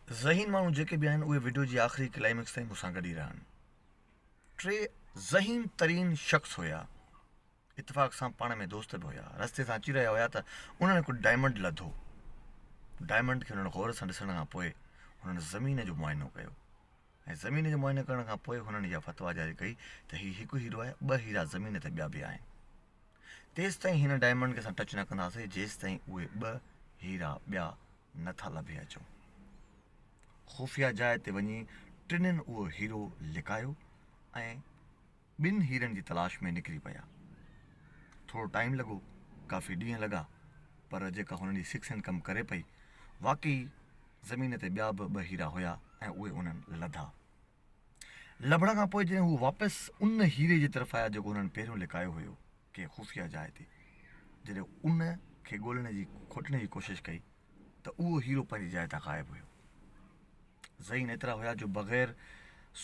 ذهين ماڻهو جيڪي به آهن اهي وڊيو جي آخري ڪلائمڪس تائين مون سان گڏ ئي رهيا آهن ٽي ذهين ترين شخص هيا اتفاق سان پاڻ ۾ دوست به هيا رستي سان اچي رهيا هيا ته انهن هڪ ڊائمنڊ لڌو ڊائمنڊ کي انهن غور سان ڏسڻ کان پوء انهن زمين جو معائنو ڪيو ۽ زمين جو معائنو ڪرڻ کان پوء هنن اها فتويٰ جاري ڪئي ته هي هڪ هيرو آهي، ٻه هيرا زمين تي ٻيا به آهن. تيستائين هن ڊائمنڊ کي اسان ٽچ نه ڪنداسين جيستائين اهي ٻه هيرا ٻيا نه ٿا لڀي اچون. خفيه جاء تي وڃي ٽنهن اهو هيرو لڪايو ۽ ٻن هيرن جي تلاش ۾ نڪري پيا. ٿورو ٽائيم لڳو، ڪافي ڏينهن لڳا، پر جيڪا هنن جي سڪس هينڊ ڪم ڪري پئي، واقعي زمين تي ٻيا به ٻه هيرا هيا ۽ اهي هنن لڌا. لڀڻ کان پوء جڏهن هو واپس ان هيري جي طرف آيا جيڪو هنن پهريون لڪايو هيو، ڪنهن خفيه جاء تي، جڏهن ان کي ڳولڻ جي کوٽڻ جي ڪوشش ڪئي ته اهو هيرو پنهنجي جاء تان غائب هيو. ذھين ايترا ھيا جو بغير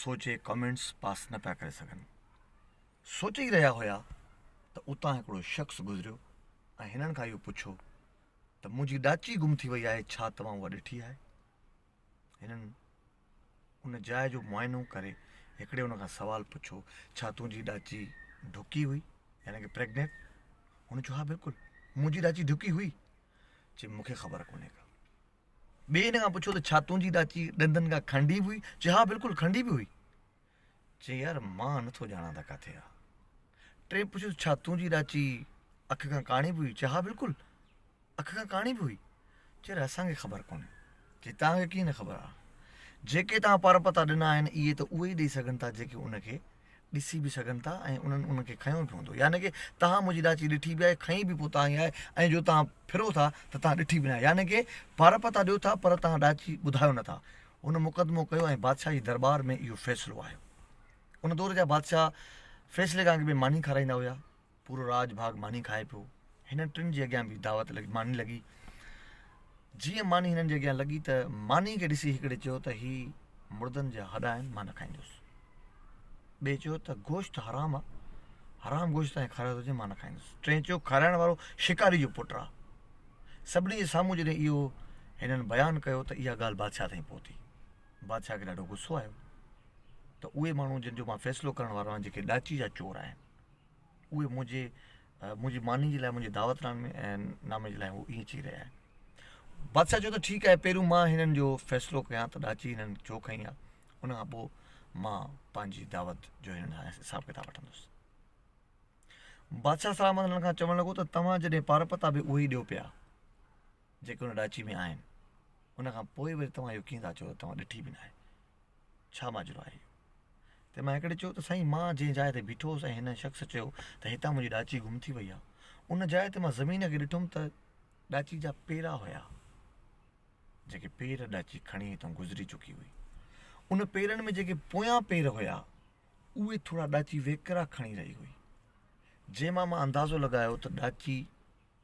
سوچي ڪمينٽس پاس نه پيا ڪري سگھن. سوچي ئي رھيا ھيا ته اتان ھڪڙو شخص گذريو ۽ ھنن کان اھو پڇيو ته منھنجي ڏاچي گم ٿي وئي آھي ڇا توھان اھا ڏٺي آھي؟ ھنن ان جاء جو معائنو ڪري ھڪڙي ان کان سوال پڇيو ڇا تنھنجي ڏاچي ڍڪي ھئي يعني ڪي پريگنينٽ؟ ھن چيو ھا بلڪل منھنجي ڏاچي ڍڪي ھئي. چي مونکي خبر ڪونھي ڪا. ٻئي هن کان پڇيو ته ڇا تنهنجي ڏاچي ڏندن کان کنڊي به هئي؟ چيو ها بلڪل کنڊي به هئي. چي يار مان نه ٿو ڄاڻان ته ڪاٿي آ. ٽئين پڇيس ڇا تنهنجي ڏاچي اک کان ڪاڻي به هئي؟ چي ها بلڪل اک کان ڪاڻي به هئي. چي يار اسان کي خبر ڪونهي. چي توهان کي ڪيئن نه خبر آ. جيڪي توهان پرپتا ڏنا آهن اهي ته اهي ئي ڏئي سگهن ٿا جيڪي ان کي ڏسي به سگهن ٿا ۽ انهن انهن کي کنيو به هوندو يعني ڪه توهان منهنجي ڏاچي ڏٺي به آهي کنئي به پوء تان ئي آهي ۽ جو توهان ڦرو ٿا ته توهان ڏٺي به ناهي يعني ڪه پارپ ته ڏيو ٿا پر توهان ڏاچي ٻڌايو نه ٿا هن مقدمو ڪيو ۽ بادشاهه جي درٻار ۾ اهو فيصلو آيو ان دور جا بادشاهه فيصلي کان اڳ ۾ ماني کارائيندا هيا پورو راڄ ڀاڳ ماني کائي پيو. هنن ٽن جي اڳيان به دعوت لڳي ماني لڳي. جيئن ماني هنن جي اڳيان لڳي ته ماني کي ڏسي هڪڙي چيو ته هي مردن جا هڏا آهن مان نه کائيندس. ٻئي چيو ته گوشت حرام آ حرام گوشت تان کارائي ٿو چئين مان نه کائيندس. ٽئين چيو کارائڻ وارو شڪاري جو پٽ آ. سڀني جي سامهون جڏهن اهو هنن بيان ڪيو ته اها ڳالهه بادشاهه تائين پهتي. بادشاهه کي ڏاڍو غصو آيو ته اهي ماڻهو جن جو مان فيصلو ڪرڻ وارو آهيان جيڪي ڏاچي جا چور آهن. اهي منهنجي منهنجي ماني جي لاء منهنجي دعوت نامي ۽ نامي جي لاء هو ائين چئي رهيا آهن بادشاهه چيو ته ٺيڪ آهي پهريون مان هنن جو فيصلو ڪيان ته ڏاچي هنن ڇو کئي آهي ان کان پوء مان پنهنجي دعوت جو هنن کان حساب ڪتاب وٺندس بادشاهه سلامت هنن کان چوڻ لڳو ته توهان جڏهن پار پتا به اهي ئي ڏيو پيا جيڪي ان ڏاچي ۾ آهن ان کان پوء وري توهان اهو ڪيئن ٿا چئو ته توهان ڏٺي به ناهي ڇا ماجرو آهي اهو؟ تنهن مان هڪڙي چيو ته سائين مان جنهن جاء تي بيٺو هوس ۽ هن شخص چيو ته هتان منهنجي ڏاچي گم ٿي وئي آهي ان جاء تي مان زمين کي ڏٺم ته ڏاچي جا پيرا هيا جيڪي پير ڏاچي کڻي هتان گذري چڪي هئي ان پيرن ۾ جيڪي پويان پير هيا اهي ٿورا ڏاچي ويڪرا کڻي رهي هئي جنهن مان مان اندازو لڳايو ته ڏاچي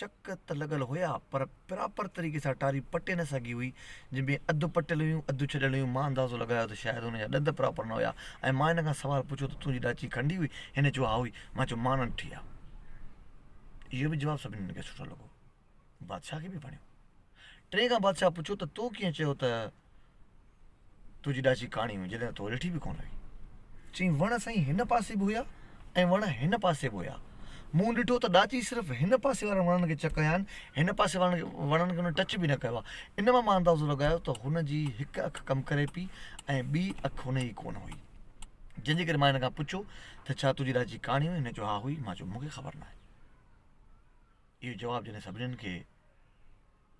چڪ ته لڳل هيا پر پراپر طريقي سان ٽاري پٽي نه سگهي هئي جن ۾ اڌ پٽيل هيون اڌ ڇڏيل هيون مان اندازو لڳايو ته شايد هن جا ڏند پراپر نه هيا ۽ مان هن کان سوال پڇيو ته تنهنجي ڏاچي کنڊي هئي هن چيو ها هئي مان چيو مان ننٺي آ اهو به جواب سڀني کي سٺو لڳو بادشاهه کي به وڻيو ٽئين کان بادشاهه پڇيو ته تو ڪيئن چيو ته تنهنجي ڏاچي ڪاڻي هئي جڏهن ته تو ريٺي به ڪونه هئي. چيائين وڻ سائين هن پاسي به هيا ۽ وڻ هن پاسي به هيا. مون ڏٺو ته ڏاچي صرف هن پاسي وارن وڻن کي چڪ هنيا آهن، هن پاسي وارن وڻن کي هن ٽچ به نه ڪيو آهي. ان مان مان اندازو لڳايو ته هن جي هڪ اک ڪم ڪري پئي ۽ ٻي اک هن جي ڪونه هئي. جنهن جي ڪري مان هن کان پڇيو ته ڇا تنهنجي ڏاچي ڪاڻي هئي؟ هن چيو ها هئي. مان چيو مون کي خبر ناهي. اهو جواب جڏهن سڀني کي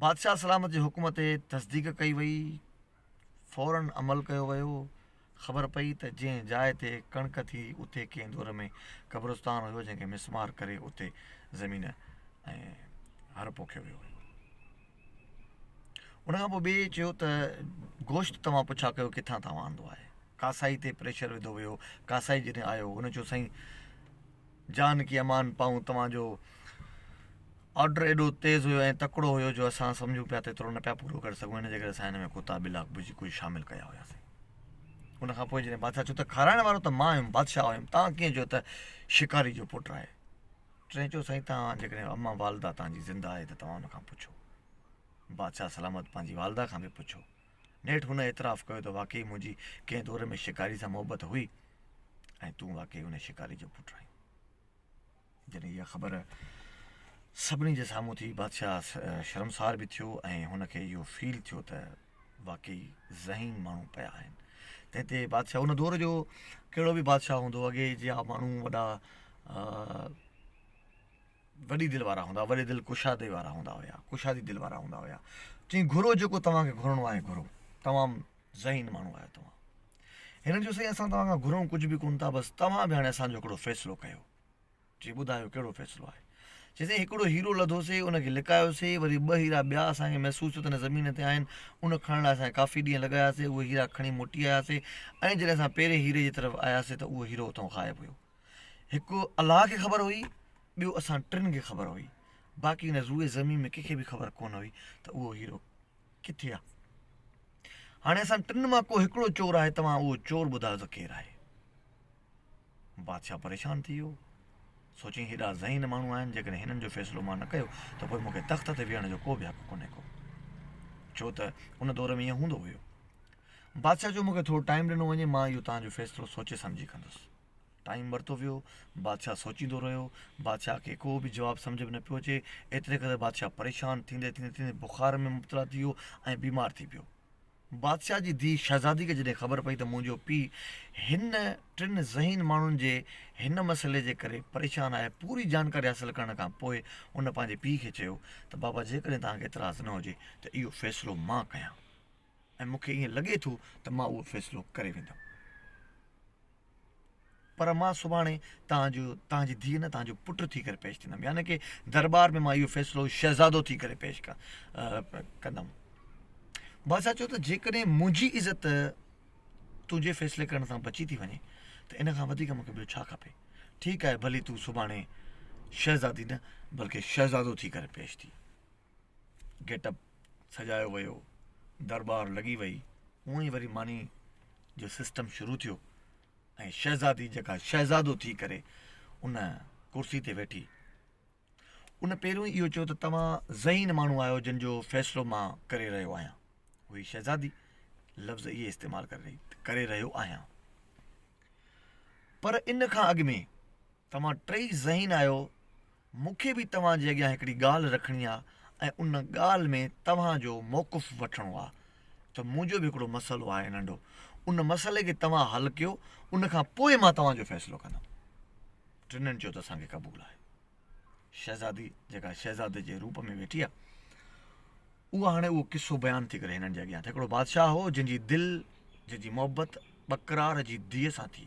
بادشاهه سلامت جي حڪم تي تصديق ڪئي وئي، فوراً عمل ڪيو ويو، خبر پئي ته جنهن جاء تي ڪڻڪ ٿي اتي ڪنهن دور ۾ قبرستان هيو جنهن کي مسمار ڪري اتي زمين ۽ هر پوکيو ويو هيو. ان کان پوء ٻئي چيو ته گوشت توهان پڇا ڪيو ڪٿان توهان آندو آهي، ڪاسائي تي پريشر وڌو ويو، ڪاسائي جڏهن آيو ان چيو سائين جان ڪي امان پائون توهان جو آرڊر ايڏو تيز هيو ۽ تڪڙو هيو جو اسان سمجهون پيا ته ايترو نه پيا پورو ڪري سگهون ان جي ڪري اسان هن ۾ ڪوتا ٻلا ڀڄي ڪجهه شامل ڪيا هياسين ان کان پوء جڏهن بادشاهه چيو ته کارائڻ وارو ته مان هيم بادشاهه هيم تان ڪيئن جو ته شڪاري جو پٽ آهي ٽين چيو سائين تان جيڪڏهن اما والده تان جي زنده آهي ته توهان ان کان پڇو بادشاهه سلامت پنهنجي والده کان به پڇو نيٺ هن اعتراف ڪيو ته واقعي منهنجي ڪنهن دور ۾ شڪاري سان محبت هئي ۽ تون واقعي ان شڪاري جو پٽ آهين جڏهن اها خبر سڀني جي سامهون ٿي بادشاهه شرمسار به ٿيو ۽ هن کي اهو فيل ٿيو ته واقعي ذهين ماڻهو پيا آهن تنهن تي بادشاهه ان دور جو ڪهڙو به بادشاهه هوندو اڳي جي ماڻهو وڏا وڏي دل وارا هوندا، وڏي دل ڪشادي وارا هوندا هيا، ڪشادي دل وارا هوندا هيا. چيائين گهرو جيڪو توهان کي گهرڻو آهي گهرو، تمام ذهين ماڻهو آهيو توهان. هنن چيو سائين اسان توهان کان گهرون ڪجهه به ڪونه ٿا بس توهان به هاڻي اسان جو هڪڙو فيصلو ڪيو. چي ٻڌايو ڪهڙو فيصلو آهي؟ چي سائين هڪڙو هيرو لڌوسي ان کي لڪايوسي وري ٻه هيرا ٻيا اسان کي محسوس ٿيو ته هن زمين تي آهن ان کڻڻ لاء اسان ڪافي ڏينهن لڳاياسي اهي هيرا کڻي موٽي آياسي ۽ جڏهن اسان پهرين هيري جي طرف آياسي ته اهو هيرو اتان غائب هيو. هڪ الله کي خبر هئي ٻيو اسان ٽن کي خبر هئي باقي هن روئي زمين ۾ ڪنهنکي به خبر ڪونه هئي ته اهو هيرو ڪٿي آ هاڻي اسان ٽن مان ڪو هڪڙو چور آهي توهان اهو چور ٻڌايو ته ڪير آهي بادشاهه پريشان ٿي ويو سوچي هيڏا ذهين ماڻهو آهن جيڪڏهن هنن جو فيصلو مان نه ڪيو ته پوء مونکي تخت تي ويهڻ جو ڪو به حق ڪونهي ڪو ڇو ته ان دور ۾ ائين هوندو هيو بادشاهه جو مونکي ٿورو ٽائيم ڏنو وڃي مان اهو تنهنجو فيصلو سوچي سمجهي ڪندس ٽائيم ورتو ويو بادشاهه سوچيندو رهيو بادشاهه کي ڪو به جواب سمجهه ۾ نه پيو اچي ايتري ڪري بادشاهه پريشان ٿيندي ٿيندي ٿيندي بخار ۾ مبتلا ٿي ويو ۽ بيمار ٿي پيو بادشاهه جي ڌيء شهزادي کي جڏهن خبر پئي ته منهنجو پيء هن ٽن ذهين ماڻهن جي هن مسئلي جي ڪري پريشان آهي پوري جانڪاري حاصل ڪرڻ کان پوء ان پنهنجي پيء کي چيو ته بابا جيڪڏهن توهان کي اعتراض نه هجي ته اهو فيصلو مان ڪيان ۽ مون کي ائين لڳي ٿو ته مان اهو فيصلو ڪري ويندم. پر مان سڀاڻي توهان جو توهان جي ڌيء نه توهان جو پٽ ٿي ڪري پيش ٿيندم يعني ڪه درٻار ۾ مان اهو فيصلو شهزادو ٿي ڪري پيش ڪندم. بادشاهه چيو ته جيڪڏهن منهنجي عزت تنهنجي فيصلي ڪرڻ سان بچي ٿي وڃي ته ان کان وڌيڪ مونکي ٻيو ڇا کپي. ٺيڪ آهي ڀلي تون سڀاڻي شهزادي نه بلڪه شهزادو ٿي ڪري پيش ٿي. گيٽ اپ سجايو ويو، درٻار لڳي وئي، اونء ئي وري ماني جو سسٽم شروع ٿيو ۽ شهزادي جيڪا شهزادو ٿي ڪري ان ڪرسي تي ويٺي. ان پهريون ئي اهو چيو ته توهان ذهين ماڻهو آهيو جن جو فيصلو مان ڪري رهيو آهيان. اهي شهزادي لفظ اهي استعمال ڪري رهي ڪري رهيو آهيان. پر ان کان اڳ ۾ توهان ٽئي ذهين آهيو مون کي به توهان جي اڳيان هڪڙي ڳالهه رکڻي آ ۽ ان ڳالهه ۾ توهان جو موقف وٺڻو آ ته منهنجو به هڪڙو مسئلو آهي ننڍو ان مسئلي کي توهان حل ڪيو ان کان پوء مان توهان جو فيصلو ڪندم ٽنهن چيو ته اسان کي قبول آهي شهزادي جيڪا شهزادي جي روپ ۾ ويٺي آ اها هاڻي اهو قصو بيان ٿي ڪري هنن جي اڳيان ته هڪڙو بادشاهه هو جنهن جي دل جنهن جي محبت ٻڪرار جي ڌيء سان ٿي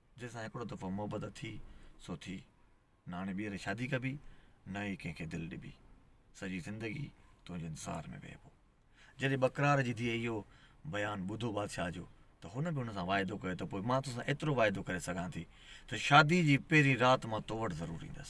جنهن سان هڪڙو دفعو محبت ٿي سو ٿي، نه هاڻي ٻيهر شادي ڪبي، نه ئي ڪنهن کي دل ڏبي. سڄي زندگي تنهنجي انتظار ۾ ويهبو. جڏهن ٻڪرار جي ڌيء اهو بيان ٻڌو بادشاهه جو ته هن به هن سان واعدو ڪيو ته پوء مان توسان ايترو واعدو ڪري سگهان ٿي ته شادي جي پهرين رات مان تو وٽ ضرور ايندس.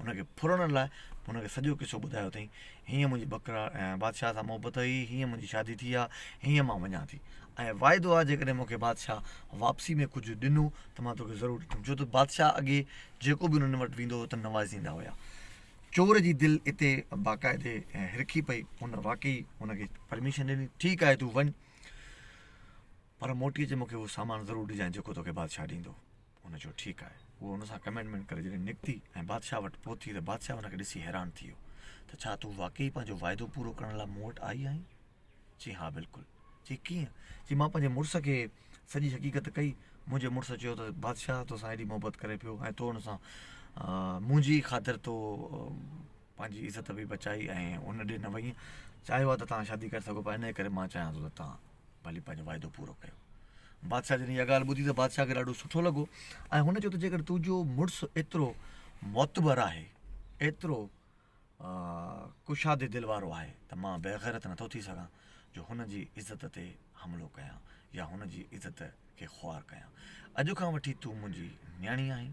ان کي ڦرڻ لاء هن کي سڄو قصو ٻڌايو اٿئين، هينئن منهنجي بکرا بادشاهه سان محبت هئي، هينئن منهنجي شادي ٿي آ، هينئن مان وڃان ٿي. ۽ واعدو آ جيڪڏهن مون کي بادشاهه واپسي ۾ ڪجهه ڏنو ته مان توکي ضرور ڏيندم. ڇو ته بادشاهه اڳي جيڪو به انهن وٽ ويندو هو ته نوازيندا هيا. چور جي دل اتي باقاعدي هرکي پئي، هن واقعي هن کي پرميشن ڏني، ٺيڪ آهي تون وڃ پر موٽي اچ مون کي اهو سامان ضرور ڏجانء جيڪو توکي بادشاهه ڏيندو. هن چيو، ٺيڪ آهي. هوء هن سان ڪمينٽمينٽ ڪري جڏهن نڪتي ۽ بادشاهه وٽ پهتي ته بادشاهه هن کي ڏسي حيران ٿي ويو ته ڇا تون واقعي پنهنجو واعدو پورو ڪرڻ لاء مون وٽ آئي آهين؟ چيائين، ها بلڪل. چيائين، ڪيئن؟ چيائين، مان پنهنجي مڙس کي سڄي حقيقت ڪئي. منهنجي مڙس چيو ته بادشاهه توسان ايڏي محبت ڪري پيو ۽ تو هن سان منهنجي ئي خاطر تو پنهنجي عزت به بچائي ۽ ان ڏي نه وئي چاهيو آهي ته توهان شادي ڪري سگهو پيا ان ڪري مان چاهيان ٿو ته توهان ڀلي پنهنجو وعدو پورو ڪيو بادشاهه جڏهن اها ڳالهه ٻڌي ته بادشاهه کي ڏاڍو سٺو لڳو ۽ هن چيو ته جيڪڏهن تنهنجو مڙس ايترو معتبر آهي ايترو ڪشادي دل وارو آهي ته مان بيغيرت نٿو ٿي سگهان جو هن جي عزت تي حملو ڪيان يا هن جي عزت کي خوار ڪيان اڄ کان وٺي تون منهنجي نياڻي آهين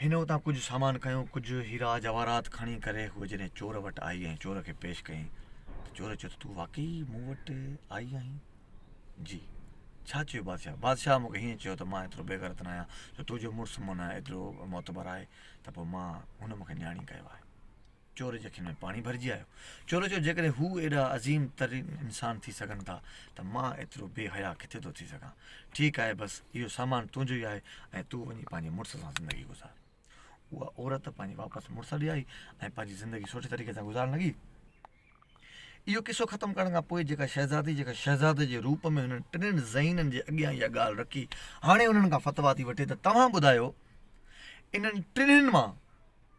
هن اتان ڪجهه سامان کنيو، ڪجهه هيرا جواهرات کڻي ڪري هوء جڏهن چور وٽ آئي ۽ چور کي پيش ڪيائين ته چور چيو ته تون واقعي مون وٽ آئي آهين؟ جي. ڇا چيو بادشاهه؟ بادشاهه مون کي هيئن چيو ته مان ايترو بيغيرت نه آهيان جو تنهنجو مڙس مون ڏانهن ايترو معتبر آهي ته پوء مان هن مون کي نياڻي ڪيو آهي. چور جي اکين ۾ پاڻي ڀرجي آيو. چور چيو، جيڪڏهن هو ايڏا عظيم ترين انسان ٿي سگهن ٿا ته مان ايترو بي حيا ڪٿي ٿو ٿي سگهان. ٺيڪ آهي بس اهو سامان تنهنجو ئي آهي ۽ تون وڃي پنهنجي مڙس سان زندگي گذار. اها عورت پنهنجي واپس مڙس ڏي آئي ۽ پنهنجي زندگي سٺي طريقي سان گذارڻ لڳي. اهو قصو ختم ڪرڻ کان پوء جيڪا شهزادي جيڪا شهزادي جي روپ ۾ هنن ٽنهن ذهينن جي اڳيان اها ڳالهه رکي هاڻي انهن کان فتويٰ ٿي وٺي ته توهان ٻڌايو انهن ٽنهن مان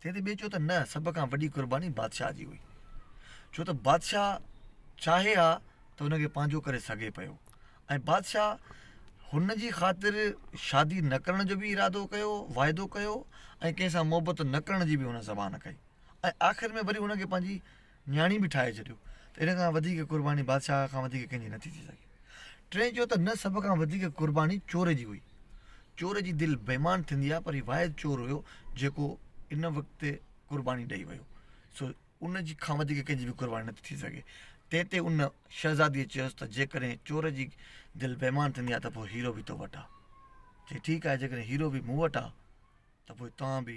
تنهن تي ٻئي چيو ته نه سڀ کان وڏي قرباني بادشاهه جي هئي ڇو ته بادشاهه چاهي ها ته هن کي پنهنجو ڪري سگهي پيو ۽ بادشاهه هن جي خاطر شادي نه ڪرڻ جو بي ارادو ڪيو واعدو ڪيو ۽ ڪنهن سان محبت نه ڪرڻ جي بي هن زبان ڪئي ۽ آخر ۾ وري هن کي پنهنجي نياڻي به ٺاهي ڇڏيو ته ان کان وڌيڪ قرباني بادشاهه کان وڌيڪ ڪنهن جي نٿي ٿي سگهي. ٽئين چيو ته نه سڀ کان وڌيڪ قرباني چور جي هئي. چور جي دل بيمان ٿيندي آهي پر هي واحد چور هيو جيڪو ان وقت قرباني ڏئي ويو سو ان جي کان وڌيڪ ڪنهن جي به قرباني نٿي ٿي سگهي. تنهن تي ان شهزاديء چيس ته جيڪڏهن چور جي دل بيمان ٿيندي آهي ته پوء هيرو به تو وٽ آهي. چي ٺيڪ آهي جيڪڏهن هيرو به مون وٽ آهي ته پوء توهان به